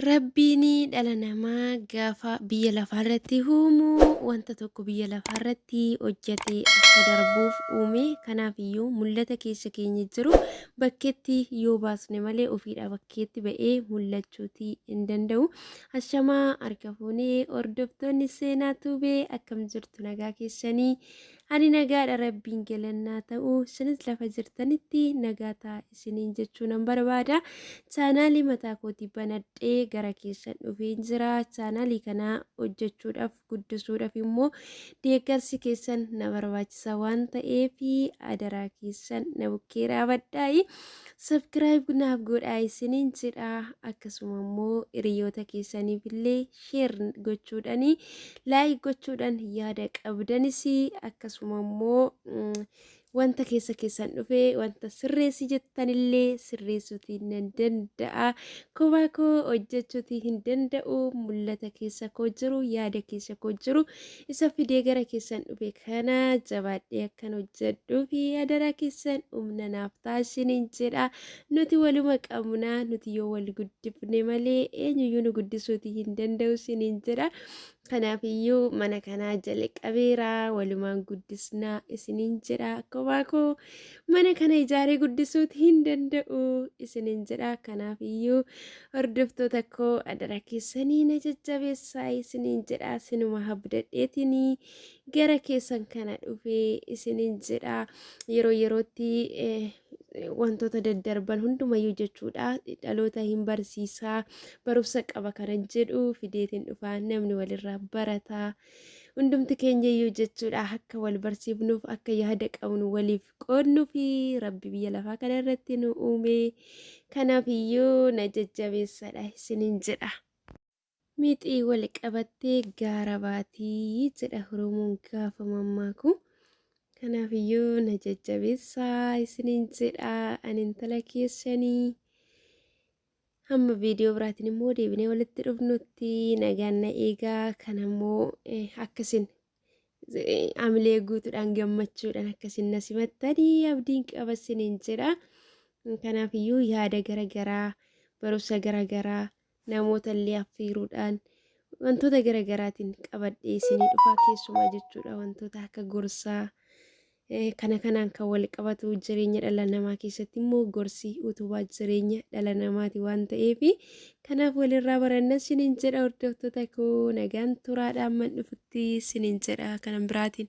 Rabbiin dhala namaa gaafa biyya lafaarratti uumu wanta tokko biyya lafaarratti hojjatee akka darbuuf uume kanaafiyyuu mul'ata keessa keenya jiru bakkeetti yoo baasne malee ofiidhaa bakkeetti ba'ee mul'achuutii hin danda'u. Ashamaa harka fuunee hordoftoonni seenaa tuubee akkam jirtu nagaa keessanii Ani nagaadha rabbiin galannaa ta'u isinis lafa jirtanitti nagaa ta'a isiniin jechuu nan barbaada chaanaalii mataa kooti banadhee gara keessan dhufeen jira chaanaalii kana hojjechuudhaaf guddisuudhaaf immoo deeggarsi keessan na barbaachisa waan ta'eef adaraa keessan na bukkee dhaabadhaa'i sabkiraayib naaf godhaa isiniin jedha akkasuma immoo hiriyoota keessaniif illee sheer gochuudhaan laayik gochuudhaan yaada qabdanis akkasuma immoo wanta keessa keessan dhufe wanta sirreessi jettanillee sirreessuuti nan danda'a kophaa koo hojjechuuti hin danda'u mul'ata keessa koo jiru yaada keessa koo jiru isa fidee gara keessan dhufe kana jabaadhee akkan hojjedhuu fi adaraa keessan humna naaf taasiniin jedha Nuti waluma qabna nuti yoo wal guddifne malee eenyuyyuu nu guddisuuti hin danda'u isiniin jedha. Kanaaf iyyuu mana kanaa jalqabeera walumaan guddisna isiniin jedha akkuma koo mana kana ijaaree guddisuuti hin danda'u isiniin jedha. Kanaaf iyyuu hordoftoota koo adara keessanii na jajjabeessaa isiniin jedha sinuma habdadheetini gara keessan kana dhufee isiniin jedha yeroo yerootti. Eh, wantoota daddarban hundumayyuu jechuudha dhaloota hin barsiisaa barumsa qaba kanan jedhu fideetiin dhufaa namni walirraa barataa hundumti keenyayyuu jechuudha akka wal barsiifnuuf akka yaada qabnu waliif qoodnuu fi rabbi biyya lafaa kana irratti nu uume kanaaf iyyuu na jajjabeessadha isinin jedha. Mixii wal qabattee gaara baati jedha Oromoon gaafa mammaaku. Kanaaf iyyuu na jajjabeessaa isiniin jedha ani intala keessanii. Hamma viidiyoo biraatiin immoo deebinee walitti dhufnutti nagaan na eegaa kan ammoo akkasin amilee guutuudhaan gammachuudhaan akkasin na simattanii abdiin qaba isiniin jedha. Kanaaf iyyuu yaada gara garaa barumsa gara garaa namoota illee affeeruudhaan wantoota gara garaatiin qabadhee isinii dhufaa keessumaa jechuudha wantoota akka gorsaa eh, kana kanaan kan wal qabatu jireenya dhala namaa keessatti immoo gorsi utubaa jireenya dhala namaati waan ta'eef kanaaf walirraa baranna sinin jedha hordoftoota koo nagaan turaadha amman dhufutti sinin jedha kanan biraatiin.